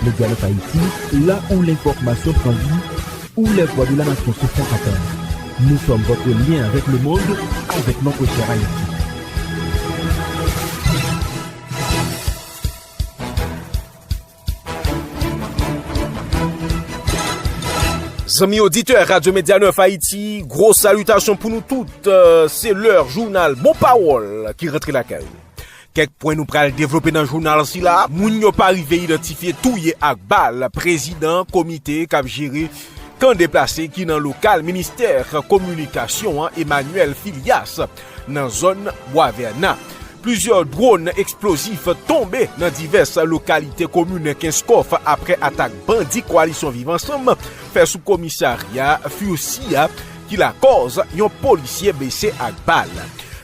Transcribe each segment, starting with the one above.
Medialink Haïti, la ou lenfòmasyon pran li, ou lè vwa de la nasyon se sa kap an. Nou sòm votre lyen avèk le mond, avèk notre chère Haïti. Zanmi oditè Radyo Medya Nèf Ayiti, gwo salitasyon pou nou tout, se lè jounal Bon Pawòl ki rantre lakay ou. Kèk pwen nou pral devlope nan jounal sila, moun yo pa rive idantifye touye ak bal prezidan komite k ap jere kan deplase ki nan lokal ministè kominikasyon an Emmanuel Filias nan zòn Bwavèna. Plizyè dwòn eksplozif tonbe nan divès lokalite komin Kenskòf aprè atak bandi Koalisyon Viv Ansanm fè sou komisarya Furcia ki lakòz yon polisye blese ak bal.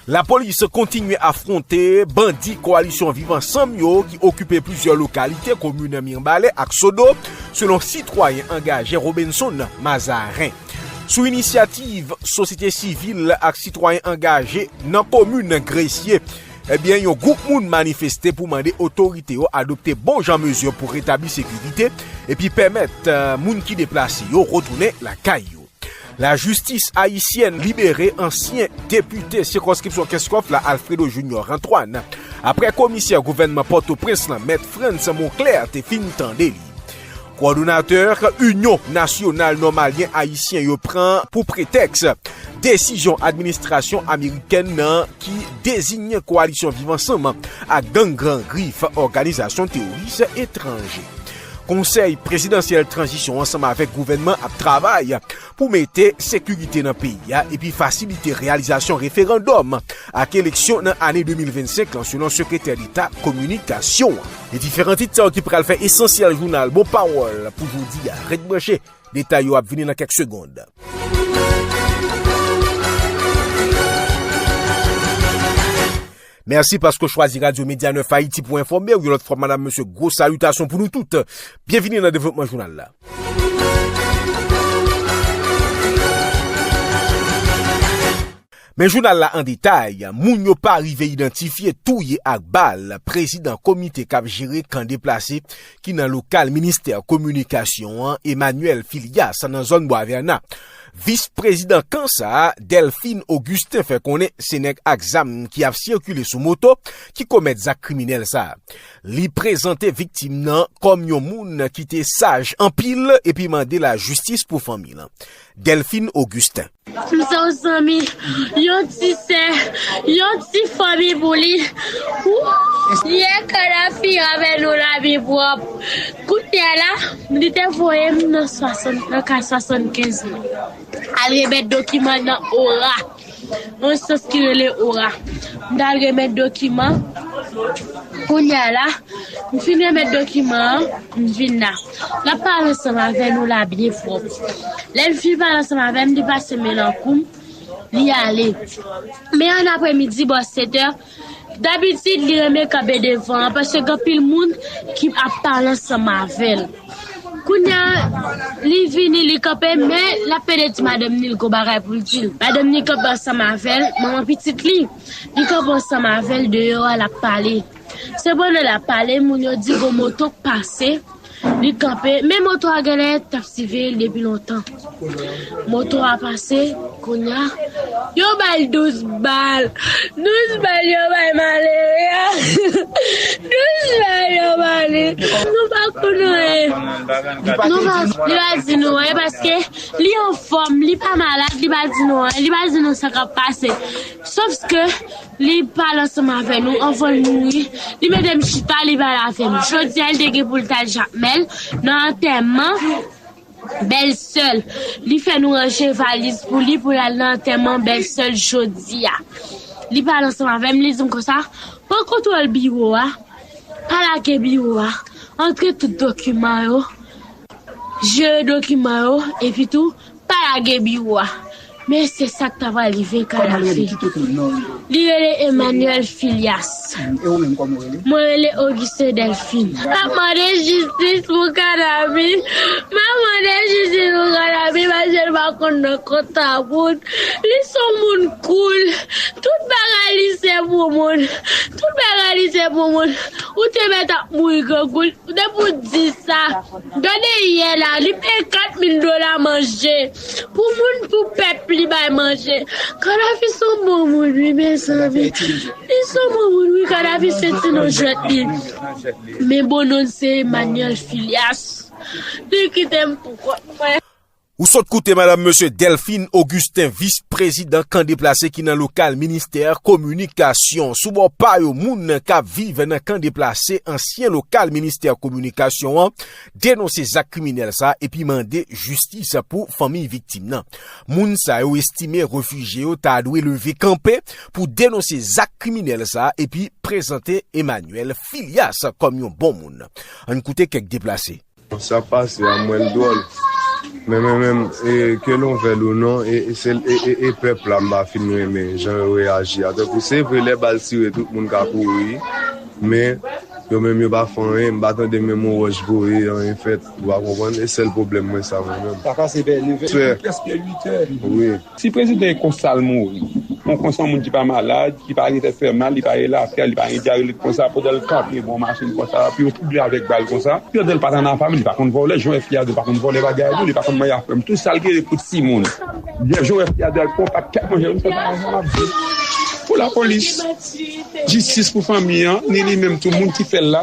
Lapolis kontinye afwonte bandi kowalisyon Viv Ansanm yo ki okipe plizyè lokalite komin Mirebalais ak Sodo, selon sitwayen angaje Robenson Mazarin. Sou inisyativ sosyete sivil ak sitwayen angaje nan komin Gresye, ebyen yon gwoup moun manifeste pou mande otorite yo adopte bon jan mezi pou retabli sekirite epi pèmèt moun ki deplase yo retounen lakay yo. Lajistis ayisyèn libere ansyen depite sikonskripsyon Kenskòf la Alfredo Junior Antoine aprè komisè gouvènman Pòtoprens lan mèt Frantz Monclair te fin tande li. Kowòdonatè Inyon Nasyonal Nòmalyen Ayisyen yo pran pou pretèks desizyon administrasyon amerikèn nan ki deziyen kowalisyon Viv Ansanm ak gang Gran Grif òganizasyon teworis etranje. Konsèy prezidansyèl tranzisyon ansanm avèk gouvènman ap travay pou mete sekirite nan peyi a epi fasilite reyalizasyon referandòm ak eleksyon nan ane 2025 lan selon sekretè deta kominikasyon an. Se diferan tit sa yo ki pral fè esansyèl jounal bon pawòl pou jodi a. Ret branche, detay yo ap vini nan kèk segond. Mèsi paske w chwazi Radyo Medya Nèf Ayiti pou enfòme w yon lòt fwa madam mesye gwo salitasyon pou nou tout. Byenvini nan devlopman jounal la. Men jounal la an detay, moun yo pa rive idantifye touye ak bal prezidan komite k ap jere kan deplase ki nan lokal ministè kominikasyon an Emmanuel Filias nan zòn Bwavèna. Vis prezidan kan sa a, Delphine Augustin fè konnen se nèg ak zam ki ap sikile sou moto ki komèt zak kriminèl sa. Li prezante viktim nan kòm yon moun ki te saj anpil epi mande lajistis pou fanmi lan. Delphine Augustin. M se yon zanmi, yon ti sè, yon ti fanmi pou li. Wouuw! Yè Kadhafi avè nou lavi pwòp. Kounye a la, Li te voye m nan ka 75 lan al remèt dokiman nan ora, yon sant ki rele ora. M t al remèt dokiman, kounye a la, m fin remèt dokiman an, m vin la. L ap pale ansanm avè nou la byen fò. Lè l fin pale ansanm avè m, li pase men nan kou m, li ale. Men annapremidi, bò 7 è, Dabitid li renmen kanpe devan an paske gen anpil moun ki ap pale ansanm avè l. Kounya li vini li kanpe men l ap pede di madanm ni l gon bagay pou l di l. Madanm ni kanpe ansanm avè l, manman pitit li, li kanpe ansanm avè l deyò a l ap pale. Se pandan l ap pale moun yo di gon moto k pase. Li kanpe, men moto a genlè tap siveye l depi lontan. Moto a pase, kounya yo bay l 12 bal. 12 bal yo bay malere a. 12 bal yo bay li. Nou pa konn anyen. Li pa di nou anyen paske li anfòm, li pa malad, li pa di nou anyen, li pa di nou sa kap pase. Sofske. Li pale ansanm avè nou anvan l mouri. Li mande m chita, li pale avè m. Jodi a, li te gen pou l t al Jakmèl, nan antèman bèlsè l. Li fè nou ranje valiz pou li pou l al nan antèman bèlsè l jodi a. Li pale ansanm avè m, li di m konsa, Pran kontwòl biwo a, pa lage biwo a, antre tout dokiman yo, jere dokiman yo, epitou Pa lage biwo a. Men se sa k ta pral rive Kadhafi. Li rele Emmanuel Filias. Mwen rele Augustin Delphine. M ap mande jistis pou Kadhafi. M ap mande jistis pou Kadhafi paske l pa konn nan kont a moun. Li s on moun koul. Tout bagay li se pou moun. Tout bagay li se pou moun. Ou te mèt ap mouri grangou. Depi w di sa. Gade yè la li peye 4 mil dola manje pou moun pou pèp li bay manje kadafi son bon moun wi mezanmi li son bon moun wi kadafi se ti non jwèt li men bon nonl se emanyèl filyas li kitem pou kont mwen. Ou sot koute Madam Mesye Delphine Augustin Vis Prezidan Kan Deplase ki nan lokal Ministè Kominikasyon. Sou bò pa yo moun k ap viv nan Kan Deplase, ansyen lokal Ministè Kominikasyon an, denonse zak kriminèl sa epi mande jistis pou fanmiy viktim nan. Moun sa yo estime refijye yo ta dwe leve kanpe pou denonse zak kriminèl sa epi prezante Emmanuel Filias kòm yon bon moun. Ann koute kèk deplase. Sa pase a m wè l dwòl. Men mwen menm ke nou vle l ou non e pèp la m pa fin renmen jan yo reyaji a. Tankou se vre lè bal tire tout moun ka kouri men yo menm yo pa fè anyen. M pa tande menm yon wòch voye anyen fèt ou pa konprann. E sèl pwoblèm mwen sa mwen menm. Sa pase vè 9 è 8 è prèske 8 è. Si prezidan e konsa l mouri. On konsa on moun ki pa malad, ki pa gen tèt fè mal, li pa gen lafyèl, li pa gen dyarelit konsa, pandan l kanpe bò machin konsa, epi yo twouble avèk bal konsa. Pèdè l pa t analfabèt, li pa konn vòlè, jan FPR di l pa konn vòlè bagay li, li pa konn manje ak fanm. Tou sa l genyen pou timoun. Jan FPR di l al pran yon pak kèk manje, li fè sa konsa l ap di l. Pou lapolis. Jistis pou fanmi an, ni li menm tou moun ki fè l la.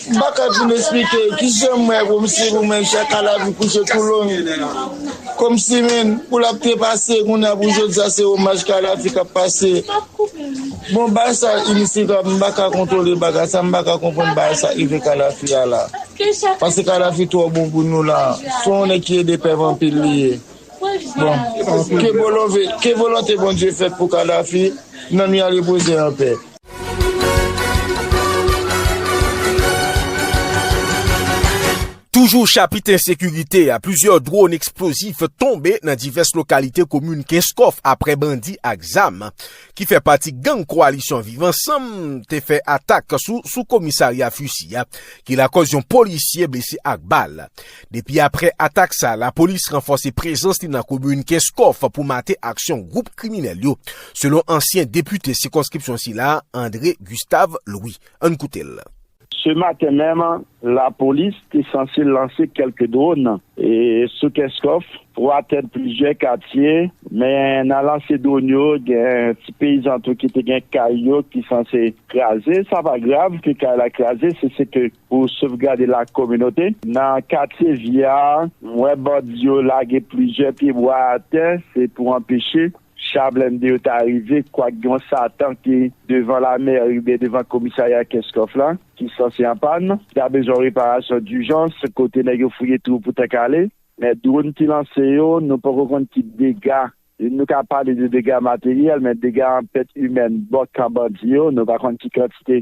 M pa ka fin esplike ki jan mwen kòmsi pou mwen chak a lavi kouche tou long kòmsi menn pou lap trepase kounye a pou jodi a se omaj ka lavi kap pase bon bagay sa inisitab m pa ka kontwole bagay sa m pa ka konprann bagay sa rive ka lavi a la paske ka lavi twò bon pou nou la son yon nèg ki ede pèp anpil li ye bon ke volonte Bondye fèt pou ka lavi nanm li a repoze anpè. Toujou chapit ensekirite a, plizyè dron eksplozif tonbe nan divès lokalite komin Kenskòf aprè bandi ak zam ki fè pati gang Koalisyon Viv Ansanm te fè atak sou sou komisarya Fusy a ki lakòz yon polisye blese ak bal. Depi aprè atak sa, lapolis ranfòse prezans li nan komin Kenskòf pou mate aksyon gwoup kriminèl yo, selon ansyen depite sikonskripsyon sila, André Gustave Louis. Ann koute l. Se maten menm, lapolis te sanse lanse kèlke dwòn sou Kenskòf pou atenn plizyè katye, men nan lanse dwòn yo, gen ti peyizan tou ki te gen kay yo ki sanse kraze. Sa pa grav ke kay la kraze, se se ke pou sovgade la kominote. Nan katye vye a, m wè bandi yo lage plizyè pye bwa atè, se pou anpeche cha blende yo ta rive, kwak gen yon satan ki devan lamèri oubyen devan komisarya Kenskòf la ki sanse an pàn, ki ta bezwen yon reparasyon dijans, kote nèg yo fouye twou pou tank ale. Men dwonn ki lanse yo, nou poko konn ki dega, nou ka pale de dega materyèl, men dega an pèt imèn bò kan bandi yo, nou pa konn ki kantite.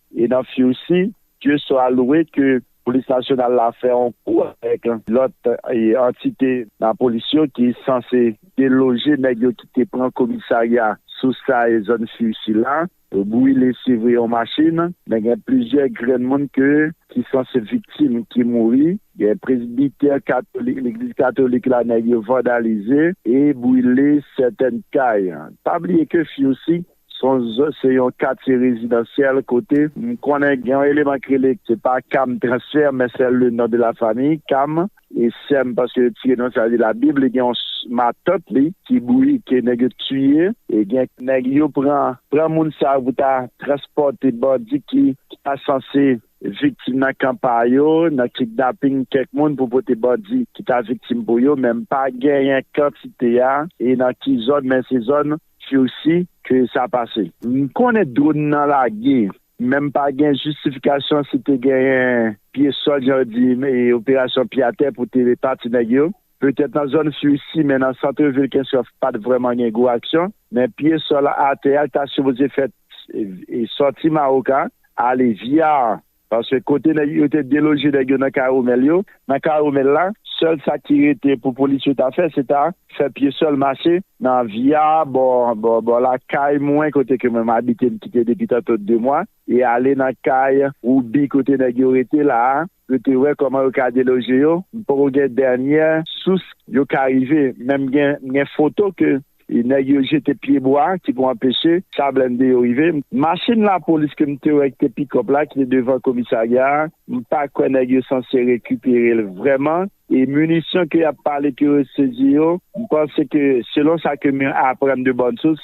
E nan Fursi, Dye swa louwe ke Polis Nasyonal la fè yon kou avèk lòt antite nan polis yo ki sanse deloje nèg yo ki te pran komisarya Sousay zòn Fursi la, yo brile se vre yon machin, men gen plizyè grenn moun ke ki sanse viktim ki mouri, gen presbitè katolik, legliz katolik la nèg yo vandalize e brile sètèn kay. Pa bliye ke Fursi Sonz se yon katye rezidansyèl kote. M konnen gen yon eleman k rele, se pa Cam Transfert men sè le non de la fami, Cam. E sè m paske yo tire non sa li la bib li gen yon matant li ki bouyi ke nèg yo tiye e gen. Nèg yo pran pran moun sa yo pou ta transpòte bandi ki ta sanse viktim nan kan pa yo nan kidnaping kèk moun pou pote bandi ki ta viktim pou yo men m pa genyen kantite a e nan ki zòn men se zòn. Sursi ke sa pase. M konnen drone nan lage men m pa gen jistifikasyon si te genyen pye sòl jan yo di operasyon pye atè pou te pa ti nèg yo petèt nan zòn Sursi men nan santre vil Kenskòf pa t vrèman gen gwo aksyon men pye sòl atè a ta sipoze fèt sòti Mawoka ale via Paske kote nèg yo te deloje nèg yo nan Caromel yo, nan Caromel la, sèl sa ki rete pou polis yo ta fè se ta fè pye sèl mache nan Avia bò bò lakay mwen kote ke mwen m abite m kite depi tanto 2 mwa e ale nan kay Roubi kote nèg yo rete la a pou te wè kòman yo ka deloje yo. M poko gen dènyè sous yo ka rive men m gen foto ke Nèg yo jete pye bwa ki pou anpeche sa blennde yo rive. Machin lapolis ke m te wè ki te pikòp la ki te devan komisarya a, m pa kwè nèg yo sanse rekipere l vrèman. E minisyon ke y ap pale ke yo sezi yo, m panse ke selon sa ke m aprann de bòn sous,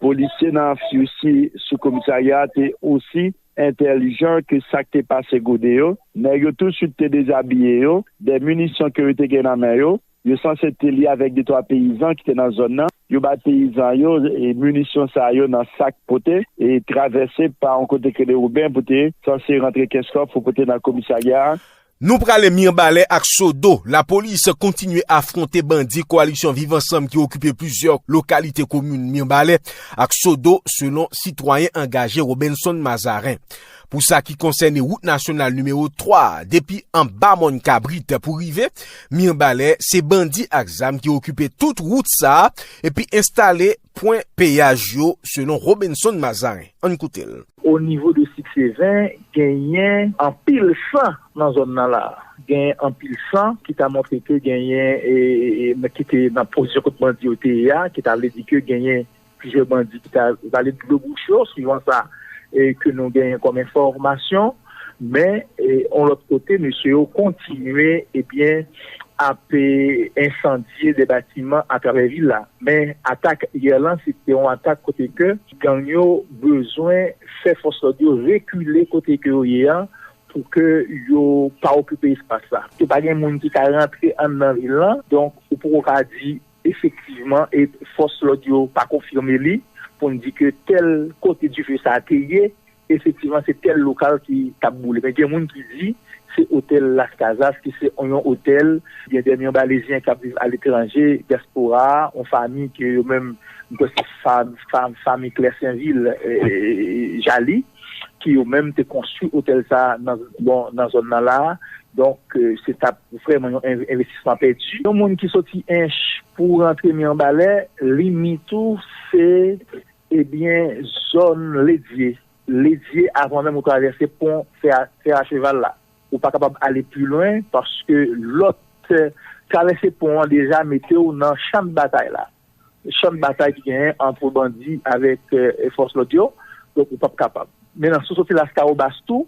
polisye nan FUC sou komisarya a te osi entèlijan ke sa k te pase gode yo. Nèg yo tousuit te dezabiye yo de minisyon ke yo te gen nan men yo. Yo sanse te li avèk de twa peyizan ki te nan zòn nan. Yo bay peyizan yo minisyon sa yo nan sak pote e travèse pa yon kote krele Woben pou te sanse rantre kès kòb pou pote nan komisarya a. Nou prale Mirbalè ak Sodo, lapolis kontinye afwonte bandi koalisyon Viv Ansanm ki okipe plizyè lokalite komin Mirbalè ak Sodo selon sitwayen angaje Robenson Mazarin. Pou sa ki konsène wout nasyonal nimewo 3 a, depi anba mòn kabrit pou rive Mirbalè, se bandi ak zam ki okipe tout wout sa a epi enstale pwen peyaj yo, selon Robenson Mazarin. Ann koute l. O nivo de Sikseven, genyen anpil san nan zòn nan la a. Genyen anpil san ki ta montre ke genyen, ki te nan pozisyon kote bandi yo te ye a, ki ta vle di ke genyen Plizyè bandi ki ta vale dlo bouch yo, suivan sa ke nou genyen kòm enfòmasyon. Men, yon lòt kote, mesye yo kontinye ap ensandye de batiman atravè vil la. Men, atak yè lan, se te yon atak kote ke gang yo bezwen fè fòs lòd yo rekile kote ke yo ye an, pou ke yo pa okipe espas la. Ke pa gen moun ki ka rantre anndan vil lan. Donk, ou poko ka di Efektivman, fòs lòd yo pa konfime li pou n di ke tèl kote dife sa a te ye, efektivman se tèl lokal ki t ap boule. Men gen moun ki di se otèl Las Casas ki se yon otèl gen dè Mianbalezyen k ap viv aletranje, dyaspora, yon fami ke yo menm, m kwè se fami Klè Senvil, Jalie. ki yo menm te konstwi otèl sa a nan bon nan zòn nan la a donk se t ap vrèman yon envestisman pèdi yon moun ki soti ench pou rantre miyanbalè limit ou se ebyen zòn ledye ledye avan menm ou travèse pon fè fè a cheval la ou pa kapab ale pi lwen paske lòt travèse pon an deja mete w nan chandbatay la. Chan batay ki genyen antre bandi avèk fòs lòd yo, donk ou pap kapab. Men nan si w soti Laskawobas tou,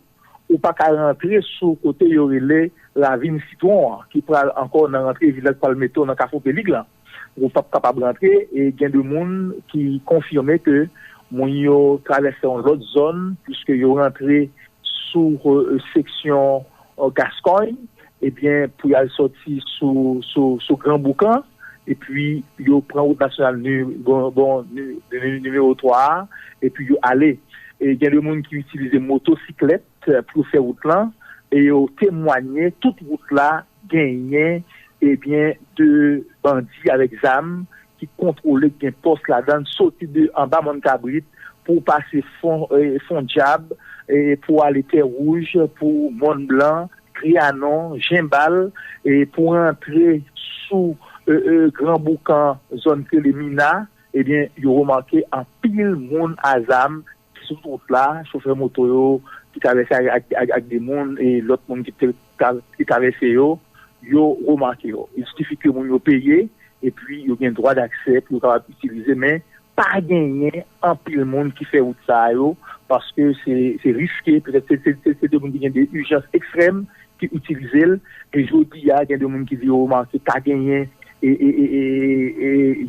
ou pa ka rantre sou kote yo rele Ravin Sitwon an ki pral ankò nan rantre vil la ki pral mete w nan Kafou Pelig lan. Ou pap kapab rantre e gen de moun ki konfime ke moun yo travèse yon lòt zòn puiske yo rantre sou seksyon Au Gascogne ebyen pou yal sòti sou gran bouk lan epi yo pran wout nasyonal nimewo 3 a epi yo ale e gen de moun ki itilize moto siklèt pou yo fè wout lan e yo temwanye tout wout la genyen ebyen de bandi avèk zam ki kontwole k gen pòs ladann soti de anba mòn kabrit pou pase fon fon dyab pou ale tè wouj pou mòn blan trianon jenbal pou antre sou gran boukan zòn k rele mina ebyen yo remake anpil moun azam Sou wout la, chofè moto yo ki travèse ak de moun e lòt moun ki te travèse yo, yo remake yo. Li sifi ke moun yo peye epi yo gen dwa daksè pou yo kapab itilize men pa genyen anpil moun ki fè wout sa yo paske se riske, petèt se de moun ki gen de ijans ekstrèm ki itilize l e jodi a gen de moun ki di yo remake pa genyen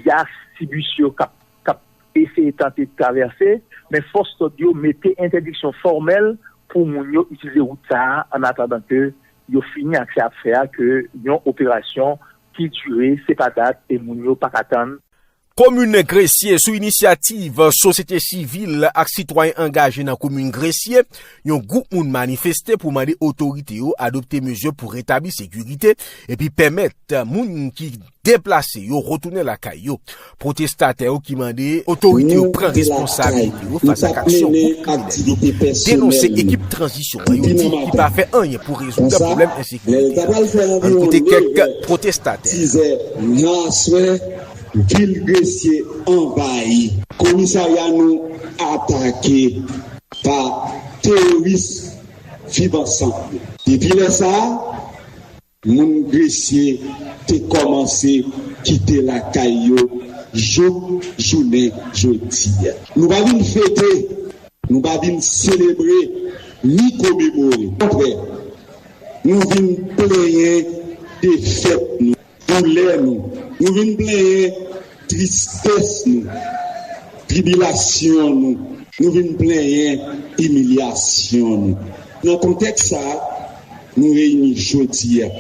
yas ti bis yo k ap t ap eseye tante travèse, men fòs lòd yo mete entèdiksyon fòmèl pou moun yo itilize wout sa a annatandan ke yo fini ak sa ap fè a ke yon operasyon ki dire se pa dat e moun yo pa ka tann. Komin Gresye, sou inisyativ sosyete sivil ak sitwayen angaje nan komin Gresye, yon gwoup moun manifeste pou mande otorite yo adopte mezi pou retabli sekirite epi pèmèt moun ki. deplase yo retounen lakay yo. Pwotestatè yo ki mande otorite yo pran responsabilite yo fas ak aksyon gwoup kriminèl yo denonse ekip tranzisyon an yo di ki pa fè anyen pou rezoud pwoblèm ensekirite a. Ann koute kèk pwotestatè. Vil Gresye anvayi, komisarya nou atake pa teworis Viv Ansanm yo. Depi lè sa a, Moun Gresye te kòmanse kite lakay yo jouk jounen jodi a. Nou pa vin fete, nou pa vin selebre ni komemore. Okontrè, nou vin plenyen defèt nou, doulè nou. Nou vin plenyen Tristès nou, tribilasyon nou, nou vin plenyen imilyasyon nou. Nan kontèks sa a, nou reyini jodi a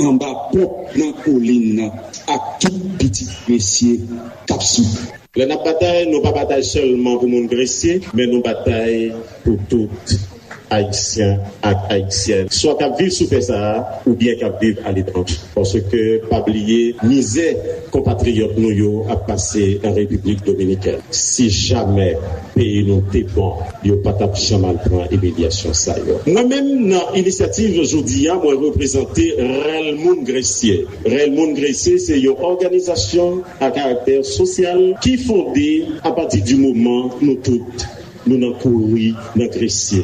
anba ponp nan kolin nan ak tout pitit Gresye k ap soufri. Lè n ap batay, nou pa batay sèlman pou moun Gresye, men nou batay pou tout Ayisyen ak Ayisyèn, swa k ap viv sou tè sa a oubyen k ap viv aletranje, paske pa bliye mizè konpatriyòt nou yo ap pase an Repiblik Dominikèn. Si jamè peyi nou te bon, yo pa t ap janm al pran imilyasyon sa yo. Mwen menm, nan inisyativ jodi a, mwen reprezante Rèl Moun Gresye. Rèl Moun Gresye se yon òganizasyon a karaktè sosyal ki fonde apati di moman nou tout, Nou nan kouri nan Gresye.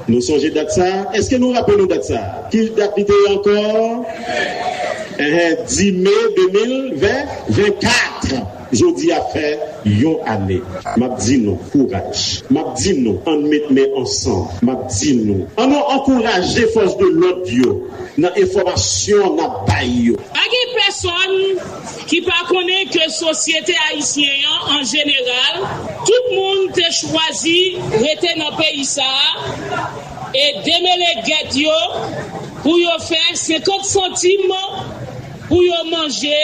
Nou sonje dat sa a? Èske nou raple nou dat sa a? Ki dat li te ye ankò? Enhen, 10 me 2024! Jodi a fè yon ane. M ap di nou, kouraj! M ap di nou, ann met men ansanm! M ap di nou, an nou ankouraje fòs de lòd yo nan enfòmasyon n ap bay yo! Pa gen pèsonn ki pa konnen ke sosyete ayisyen an an jeneral, tout moun te chwazi rete nan peyi sa a e demele gèt yo pou yo fè 50 santim pou yo manje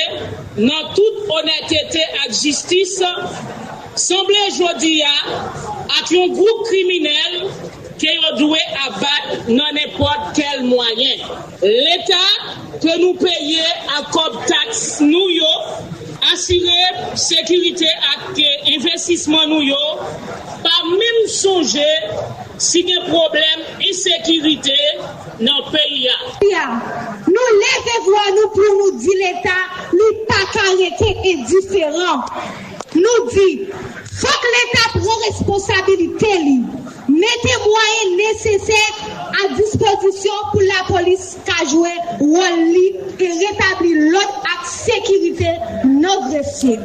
nan tout onètete ak jistis, sanble jodi a ak yon gwoup kriminèl ke yo dwe abat nan nenpòt kèl mwayen. Leta ke nou peye ak kòb taks nou yo asire sekirite ak envestisman nou yo pa menm sonje si gen pwoblèm ensekirite nan peyi a. Nou leve vwa nou pou nou di Leta li pa ka rete endiferan. Nou di, fòk Leta pran responsabilite li Mete mwayen nesesè a dispozisyon pou lapolis ka jwe wòl li e retabli lòd ak sekirite nan Gresye.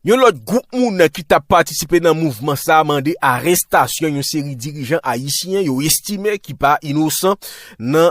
Yon lòt gwoup moun ki t ap patisipe nan mouvman sa mande arestasyon yon seri dirijan ayisyen yo estime ki pa inosan nan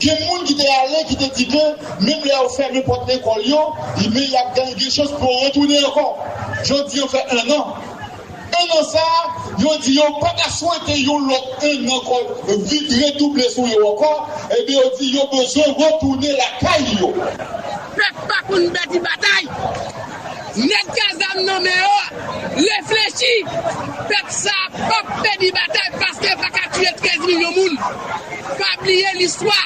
Gen moun ki te ale ki te di ke menm lè yo fèmen pòt lekòl yo, men y ap gade gen chans pou yo retounen ankò. Jodi an fè ennan. Ennan sa a, yo di yo pa ka swete yon lòt ennan kò vide redouble sou yo ankò, enben yo di yo bezwen retounen lakay yo. Pèp pa konn bèt li batay. Nèg k a zam nan men yo reflechi, pèp sa a pap pèdi batay paske yo pa ka tiye 13 milyon moun. Pa bliye listwa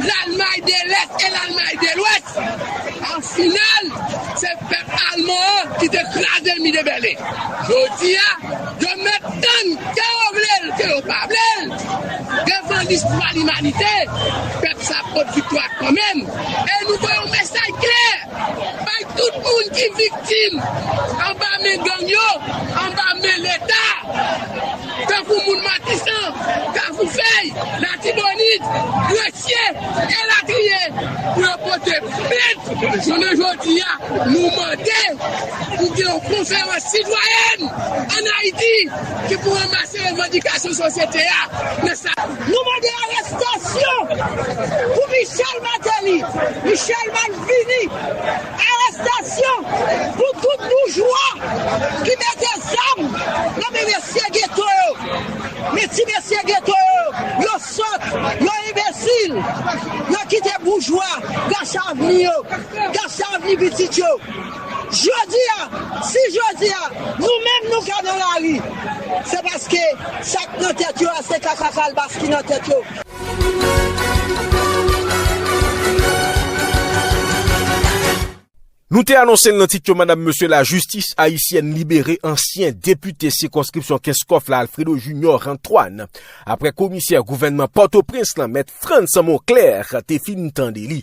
Lalmay de Lès e Lalmay de Lwès, an final se pèp alman an ki te kraze mi de Bèlen. Jodi a yo mèt tann ke yo vle l ke yo pa vle l, devan listwa limanite, pèp sa a pot viktwa kanmenm e nou voye yon mesaj klè. Bay tout moun ki viktim anba men gang yo anba men leta tankou moun matisan, kafou fèy, latibonit, gresye elatriye pou yo pote plent jounen jodi a nou mande pou gen yon konferans sitwayèn an ayiti ki pou ranmase revandikasyon sosyete a nan sa. Nou mande arestasyon pou Michel Martelly, Michel malvini, arestasyon pou tout boujwa ki mete zam nan men mesye geto yo, men ti mesye geto yo, yo sòt, yo enbesil, yo kite boujwa gache avni yo, gache avni pitit yo. Jodia, si jodia nou menm nou ka nan lari, se paske sa k nan tèt yo a se kaka kalbas ki nan tèt yo. Nou te anonse l nan tit yo madam mesye lajistis ayisyèn libere ansyen depite sikonskripsyon Kenskòf la Alfredo Junior Antoine aprè komisè gouvènman Pòtoprens lan mèt Frantz Monclair te fin tande li.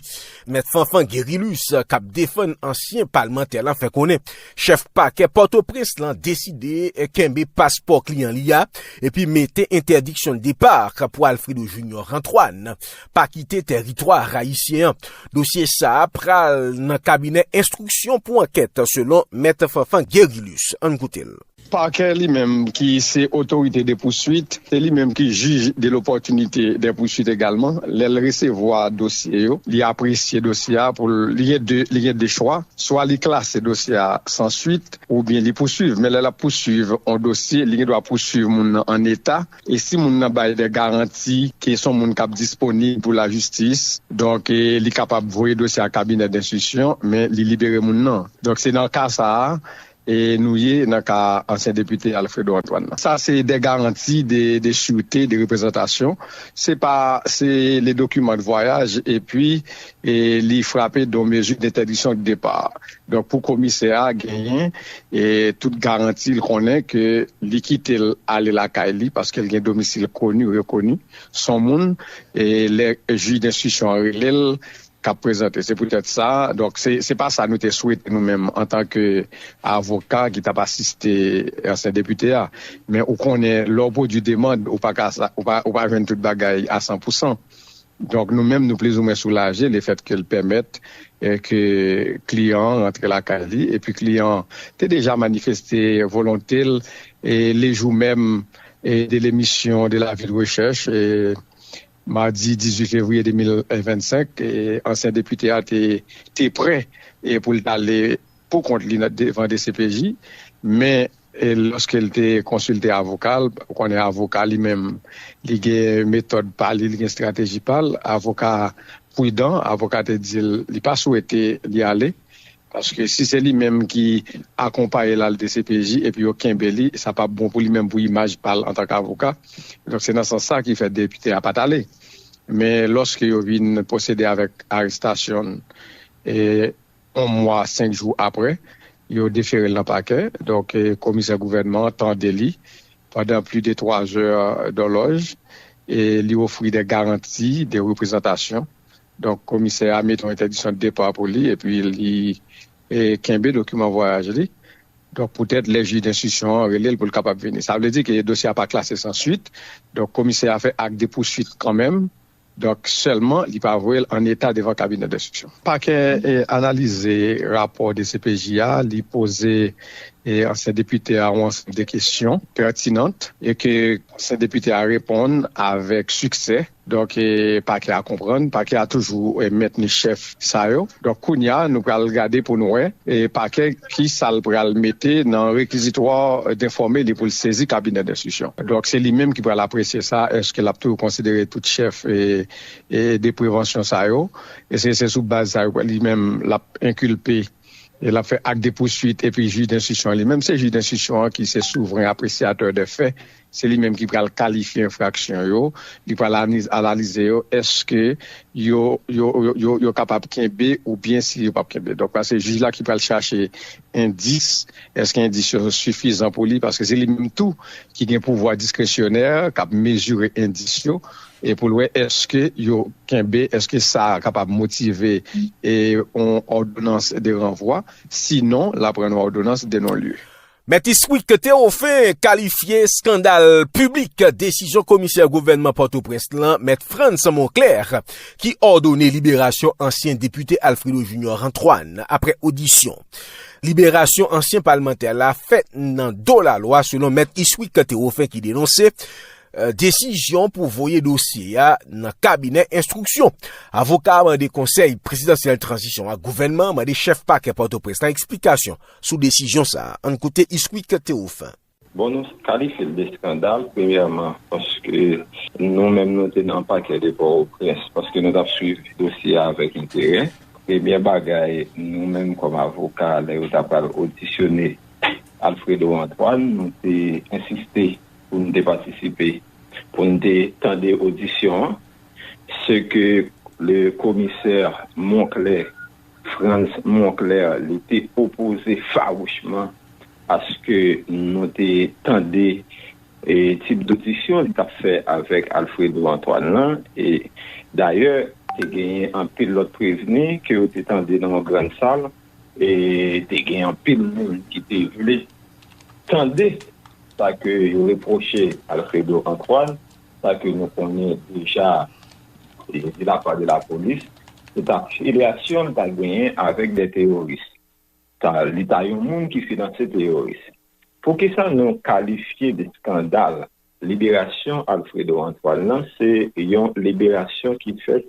Mèt Fanfan Gerilus k ap defann ansyen palmantè la fè konnen chèf pakè Pòtoprens lan deside kenbe paspò kliyan li a epi mete entèdiksyon depart pou Alfredo Junior Antoine pa kite tèritwa rayisyen an. Dosye sa a pral nan kabinè enstriksyon pou ankèt selon Mèt Fanfan Gerilus. Ann koute l. Pakè li menm ki se otorite de pouswit, se li menm ki jij de lopòtinite dè pouswit egalman, lè l resevwa dosye yo, li apresye dosye a pou l, li gen de, li gen de chwa, swa li klase dosye a san swit oubyen li pouswiv. Men lè l ap pouswiv on dosye, li gen dwa pouswiv moun nan an eta e si moun nan bay dè garanti ke s on moun k ap disponib pou lajistis, donk li kapab voye dosye a kabinè denstriksyon men li libere moun nan. Donk se nan ka sa a e nou ye nan ka ansyen depite Alfredo Antoine nan. Sa se de garanti de de surte, de reprezantasyon. Se pa se le dokiman de vwayaj epi e li frape don mezi dentèdisyon de depa. Donk pou komisè a genyen e tout garanti l konnen ke li kite l ale lakay li paske l gen domisil koni, rekoni, s on moun e lè jij denstriksyon an rele l k ap prezante. Se poutèt sa, donk, se pa sa nou te swete nou menm antanke avoka ki t ap asiste ansyen depite a. Men ou konnen, lè w pwodui demand, ou pa ka ou pa jwenn tout bagay a san pou san. Donk, nou menm nou plizoumwen soulaje lefètke l pèmèt ke kliyan an rantre lakay li. Epi kliyan an te deja manifeste volonte l lejou menm de lemisyon de Lavil Rechèch. Madi 18 fevriye 2025, ansyen depite a te te prè pou l t ale pou kont li devan dcpj, men lòske l te konsilte avoka l, ou konnen avoka li menm li gen metòd pa li, li gen estrateji pa l, avoka a pridan, avoka te di l li pa swete li ale, Paske si se li menm ki akonpaye l al dcpj epi yo kenbe li, sa pap bon pou li menm pou imaj pa l antanke avoka. Donk se nan sans sa ki fè depite a pa t ale. Men lòske yo vin pwosede avèk arestasyon l yon mwa senk jou aprè, yo defere l nan pakè. Donk komisè gouvènman an tande li pandan pli de twa zè dòlòj e li ofri de garanti de reprezantasyon Donk komisè a mete yon entèdiksyon depa pou li epi li kenbe dokiman vwayaj li. Donk poutèt lè jij denstriksyon an rele l pou l kapab vini. Sa vle di ke dosye a pa klase san suit. Donk komisè a fè ak de pousuit kanmenm. Donk sèlman li pa voye l an eta devan kabinè denstriksyon. Pakè analize rapò dcpj a, li poze ansyen depite a yon ansanm de kesyon pètinant e ke ansyen depite a reponn avèk siksè. Donk pakè a konprann, pakè a toujou mentni chèf sa yo. Donk kounya nou pral gade pou nou wè pakè ki sa l pral mete nan rekizitwa denfòme li pou l sezi kabinè denstriksyon. Donk se li menm ki pral apresye sa, èske l ap toujou konsidere tout chèf de prevansyon sa yo, èske se sou baz sa yo li menm l ap enkilpe e l ap fè ak de pouswit epi jij denstriksyon an li menm se jij denstriksyon an ki se souvren apresyatè dè fè se li menm ki pral kalifye enfraksyon yo, li pral analize yo èske yo kapab kenbe oubyen si yo pap kenbe. Donk la se jij la ki pral chache endis, èske endis yo sifizan pou li paske se li menm tou ki gen pouvwa diskresyonè kap mezire endis yo e pou l wè èske yo kenbe, èske sa kapab motive yon òdonans de ranvwa, sinon la pran yon òdonans de non-lye. Mèt Iswick Théophin kalifye skandal piblik desizyon komisè gouvènman Pòtoprens lan, Mèt Frantz Monclair, ki òdone liberasyon ansyen depite Alfredo Junior Antoine aprè odisyon. Liberasyon ansyen palmantè la fèt nan do lalwa selon Mèt Iswick Théophin ki denonse desizyon pou voye dosye a nan kabinè enstriksyon. Avoka a mande konsèy prezidansyèl tranzisyon ak gouvènman an mande chèf pakè Pòtoprens lan eksplikasyon. Sou desizyon sa a, ann koute Isquick Théophin. Bon nou kalifye l de skandal premyèman paske nou menm nou te nan pakè de Pòtoprens paske nou t ap swiv dosye a avèk enterè. Premyè bagay nou menm kòm avoka lè yo t apral odisyone Alfredo Antoine nou te ensiste pou n te patisipe pou n te tande odisyon an. Se ke le komisè Monclé. Frantz Monclair li te opoze fawouchman aske nou te tande tip dodisyon li t ap fè avèk Alfredo Antoine lan. E dayè, te genyen anpil lòt prevni ke yo te tande nan yon grann sal e te gen anpil moun ki te vle tande sa ke yo repwoche Alfredo Antoine. Sa ke nou konnen deja de la pa de la polis, se ta filyasyon l ta genyen avèk dè teyoris. Ta li ta yon moun ki finanse teyoris. Poukisa nou kalifye de skandal liberasyon Alfredo Antoine lan se yon liberasyon ki fèt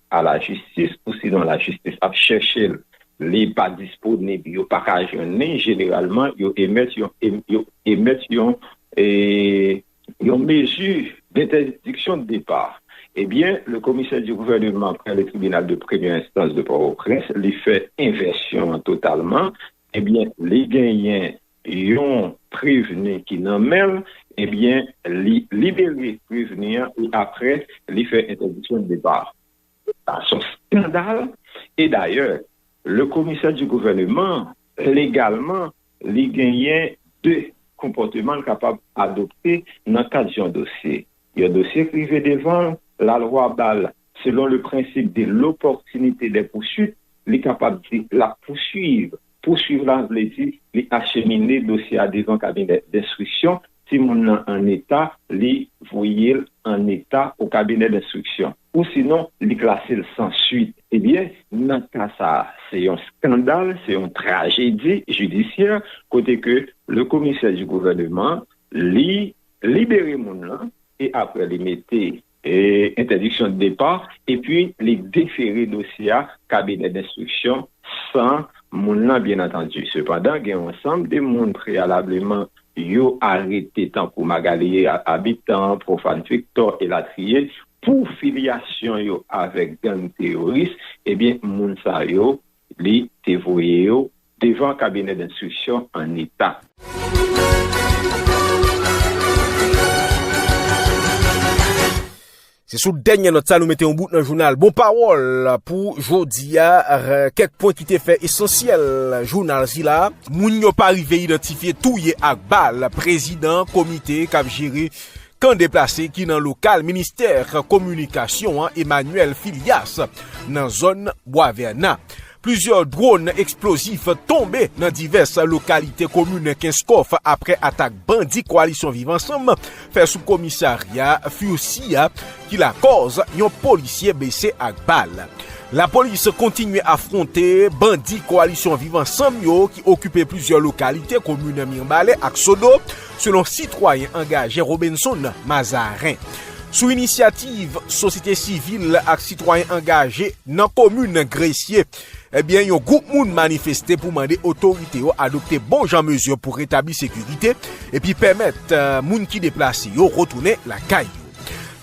a la jistis ou sinon la jistis ap chèche l li pa disponib yo pa ka jwenn li jeneralman yo emèt yon yo emèt yon yon mezi dentèdiksyon depa ebyen le komisè di gouvèneman prè le tribinal de premyè enstans de pòtoprens li fè envèsyon an totalman ebyen li genyen yon prevni ki nan men l, ebyen li libere prevni an e aprè li fè entèdiksyon depa. Sa son skandal e dayè le komisè di gouvèneman legalman li genyen 2 konpòteman l kapab adopte nan kad yon dosye. Yon dosye k rive devan l, lalwa ba l, selon le principe de l'opportunité des poursuites, li kapab di l ap pouswiv. Pouswiv la vle di li achemine dosye a devan kabinè denstriksyon, si moun nan an eta, li voye l an eta o kabinè denstriksyon. Ou sinon, li klase l san swit. Ebyen, nan ka sa a, se yon skandal, se yon trajedi jidisyè, kote ke le commissaire du gouvernement, li libere moun lan e aprè li mete entèdiksyon depa epi li defere dosye a kabinè denstriksyon san moun lan byen antandi. Sepandan, gen yon ansanm de moun preyalableman yo arete tankou Magalie Habitant, Prophane Victor, elatriye, pou filyasyon yo avèk gang teyoris, ebyen moun sa yo Li te voye yo devan kabinè denstriksyon an eta. Se sou dènyè nòt sa nou mete yon bout nan jounal Bon Pawòl pou jodi a. Kèk pwen ki te fè esansyèl jounal sila. Moun yo pa rive idantifye touye ak bal prezidan komite k ap jere Kan deplase ki nan lokal ministè kominikasyon an Emmanuel Filias nan zòn Bwa Vèna. Plizyè dwòn eksplozif tonbe nan divès lokalite komin Kenskòf aprè atak bandi Koalisyon Viv Ansanm fè sou komisarya Furcy a ki lakòz yon polisye blese ak bal. Lapolis kontinye afwonte bandi Koalisyon Viv Ansanm yo ki okipe plizyè lokalite komin Mirebalais ak Sodo. selon sitwayen angaje Robinson Mazarin. Sou inisyativ sosyete sivil ak sitwayen angaje nan komin Gresye, ebyen yon gwoup moun manifeste pou mande otorite yo adopte bon jan mezi pou retabli sekirite epi pèmèt moun ki deplase yo retounen lakay yo.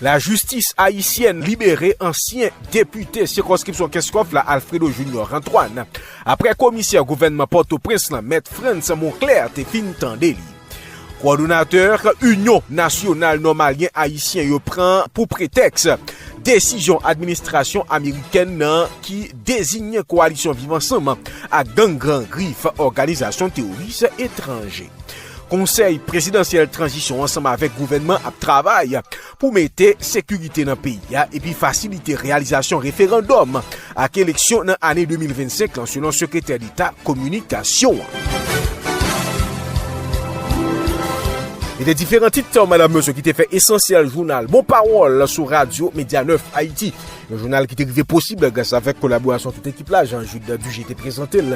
Lajistis ayisyèn libere ansyen depite sikonskripsyon Kenskòf la Alfredo Junior Antoine Aprè komisè gouvènman Pòtoprens lan mèt Frantz Monclair te fin tande li, kowòdonatè Inyon Nasyonal Nòmalyen Ayisyen yo pran pou pretèks desizyon administrasyon amerikèn nan ki deziyen kowalisyon Viv Ansanm ak gang Gran Grif òganizasyon teworis etranje. Konsèy Prezidansyèl Tranzisyon ansanm avèk gouvènman ap travay pou mete sekirite nan peyi a epi fasilite reyalizasyon referandòm ak eleksyon nan ane 2025 lan, selon Sekretè Deta Kominikasyon an. Se te diferan tit Madam Meusseau ki te fè esansyèl jounal Bon Pawòl sou Radyo Medya Nèf Ayiti, yon jounal ki te rive posib gras avèk kolaborasyon tout ekip la, Jean Jude Duger te prezante l.